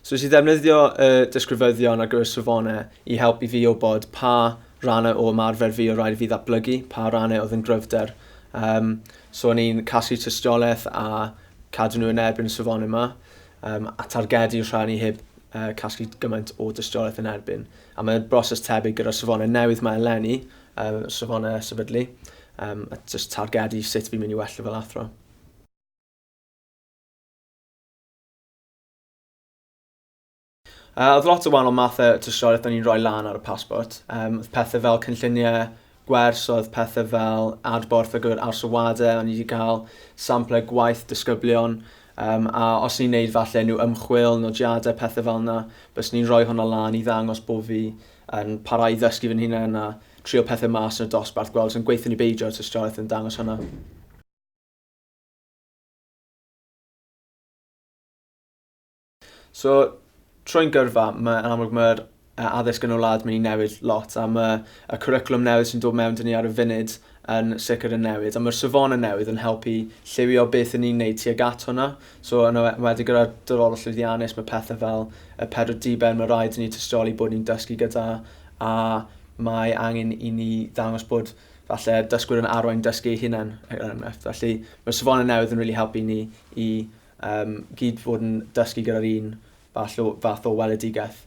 So nes i ddefnyddio y uh, disgrifyddion ar gyfer safonau i helpu fi o bod pa rannau o ymarfer fi o rhaid fi ddatblygu, pa rannau oedd yn gryfder. Um, so o'n i'n casglu tystiolaeth a cadw nhw yn erbyn y safonau yma, um, a targedu rhan i heb uh, casglu gymaint o dystiolaeth yn erbyn. A mae broses tebyg gyda'r safonau newydd mae eleni, um, safonau sefydlu, um, a just targedu sut fi'n mynd i well fel athro. Uh, oedd lot o wahanol mathau tystiolaeth da ni'n rhoi lan ar y pasbort. Um, oedd pethau fel cynlluniau gwers oedd pethe fel adborth ar gyfer Arse Wade, o'n i 'di cael samplau gwaith disgyblion, um, a os ni'n neud falle unrhyw ymchwil, nodiadau, pethe fel yna, bys ni'n rhoi hwnna lan i ddangos bod fi yn parhau i ddysgu fy hunain a trio pethau mas yn y dosbarth, gweld sy'n gweithio ni beidio at ystraeth yn dangos hwnna. So, troi'n gyrfa, mae yn amlwg mae'r addysg yn y wlad mynd i newid lot a mae y cwricwlwm newydd sy'n dod mewn dyn ni ar y funud yn sicr yn newid a mae'r safon yn newydd yn helpu lliwio beth yn ni'n neud tuag at hwnna. So yn e-, wedi gyda'r dyfodol llwyddiannus mae pethau fel y pedwar diben mae rhaid i ni tystioli bod ni'n dysgu gyda a mae angen i ni ddangos bod falle dysgwyr yn arwain dysgu eu hunain er enghraifft. Felly mae safon yn newydd yn rili really helpu ni i Yym, gyd fod yn dysgu gyda'r un fath o fath o weledigaeth.